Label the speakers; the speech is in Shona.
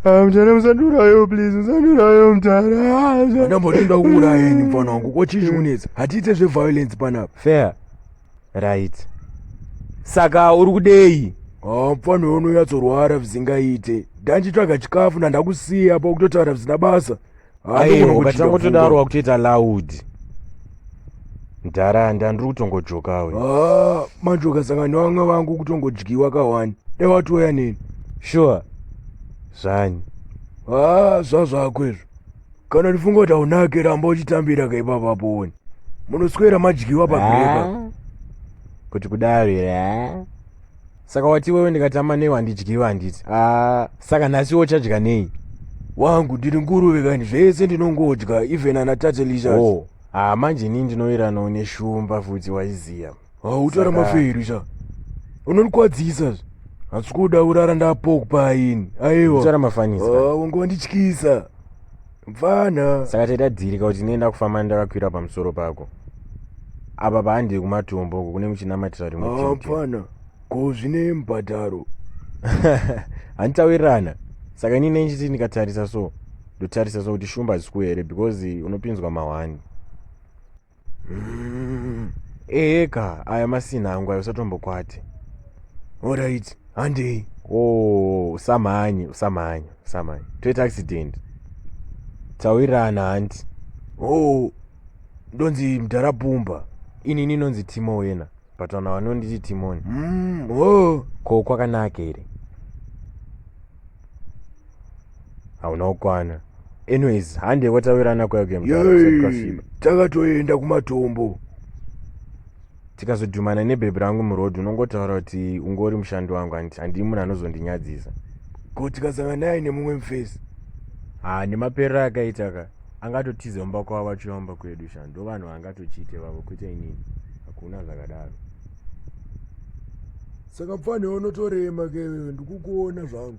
Speaker 1: Ah, mtana musandiurayewo please musandiurayewo mtana ndamboti nda kuurayeni mfana wangu ko chii chikunetsa hatiite zveviolence panapa fair right saka uri kudei Ah, mfana uyo unonyatsorwara visingaite ndanchitsvaga chikafu ndandakusiya pakutotaura visina basa Aye, ukatanga kutodaro wakutoita loud mdhara handa ndiri kutongojoka we Ah, manje ukasangana nevamwe vangu kutongodyiwa kawani dai watouya neni sure zvanyi haa zvazvako izvo kana ndifunga kuti haunake ramba uchitambira kaipapa poni munoswera madyiwa pagreka Ah, kuti kudaro here ah? saka wati iwewe ndikatama newe handidyiwe handiti haa saka nhasi iwe uchadya nei wangu ndiri nguruve kani zvese ndinongodya even ana tatelisa o haa manje inini ndinoiranawo neshumba futi waiziva hautara maferi sa unondikwadzisa zve hatsi kuda urara ndapokupa aini aiwa utara mafanisa wanga wandityisa mfana saka taitadzirika kuti nenda kufamba ndakakwira pamusoro pako apa paandiri kumatombo uko kune muchinamatira rimwe chete mfana ko zvine mbhadharo handitawirirana saka ini nechiti ndikatarisa so ndotarisa so kuti shumba hazikuwe here because unopinzwa mahwani mm, eeka aya masina angu ayo usatombokwati orit handei o oh, usamhanye usamhanye usamhanye toita accident taurirana hanti o oh, ndonzi mdhara pumba inini inonzi timo wena but vana vanonditi timoni mm, oh. ko kwakanaka here hauna kukwana anyways hande kwatawirirana kwayokuyamukasviba takatoenda kumatombo tikazodhumana nebhebhi rangu muroad unongotaura kuti ungori mushandi wangu hanti handii munhu anozondinyadzisa ko tikasanga naye nemumwe mufesi ha nemaperero akaita ka angatotiza mumba kwavo vachiomba kwedu sha ndo vanhu vaangatochiite vavo kwete inini hakuna zvakadaro saka pfanhe unotorema ke iwewe ndikukuona zvangu